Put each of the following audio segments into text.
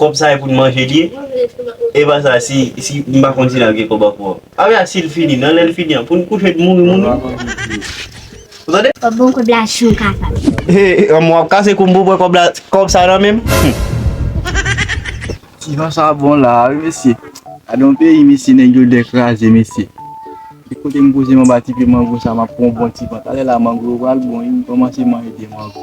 Kob sa e pou n manje li ye? Epa sa si si m pa konn si nap gen kob anko. Apa sa si l fini nan lè l fini an pou n kouche n mouri moun wi. Ou tande? Kob bon kob la si w kapab. Hee anmwe wap kase kou m pou w pran kob la kob sa nan men m hum. Ti jan sa bon la a wi mesye. Gade yon peyi mesye nèg yo dèkraze mesye. Li kote m poze m anba ti pye mango sa map pran yon bon ti van talè la mango yo pral bon wi m kòmanse manje 2 mango.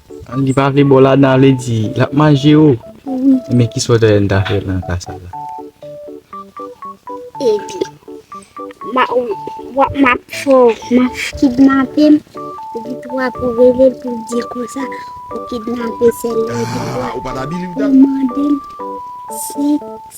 Li pa vle baw ladan a vle di lap manje yo wi men kisa ou ta renmen ta fè nan ka sa la. Epi wap map fè map kidnape m epi tou wap relel pou di konsa ou kidnape sèl la epi tou wap mande l sèks.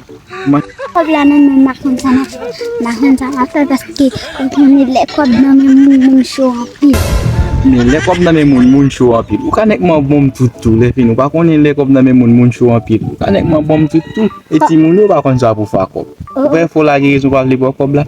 Kob la nan menm machann sa nan fè machann sa nan fè paske ou konnen lè kob nan menm moun moun cho anpil. Men lè kob nan menm moun moun cho anpil ou ka nèk man bonm tout tou lè fini ou pa konnen lè kob nan menm moun moun cho anpil ou ka nèk man bonm tout tou e timoun yo pa konn sa pou fè a kob ou wè fò lage rezon ou pa vle ba w kob la.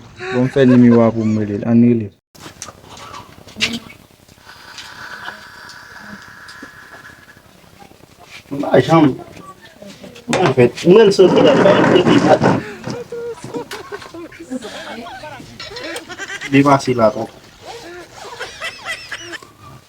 Bon m fè nimewo a poum relel ann rele. M pa janm An fèt m wèl sot li lap bay kredi sa tou. Li pase la twòp.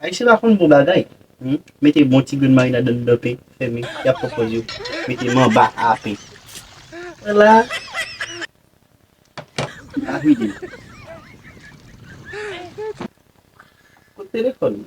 Ayisyen pa konn bon bagay humm mete bon ti grenn marinad nan dedan pen fèmen yap pran pòz yo mete manba aa pen wè la a vide kot telefòn ou.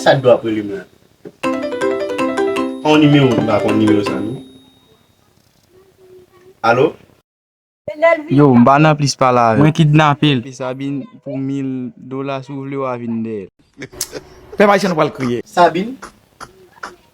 Kiyès Abdou ap rele m la? Pa yon nimewo ki pa konn nimewo sa non. Alo? Yo, m pa nan plis pale avè w. Mwen kidnape l. Sabine, pou mil dola si w vle wa vin dèyè l. Pèp Ayisyen nou pral kriye. Sabine,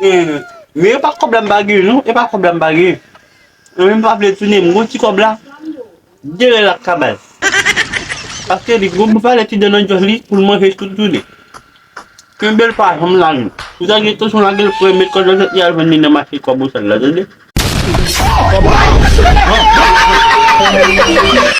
Humm e pa kob la m pa gen non e pa kob la m pa gen Humm m pa vle tounen m gon ti kob la genlè lap ka bay paske li gon m pale ti dan nan jòj li pou l manje tout jounen kenbe l pa janm lage l si w ta gen entansyon lage l pran met kòd nan jwèt li al vann li nan mache kwabosal la tande.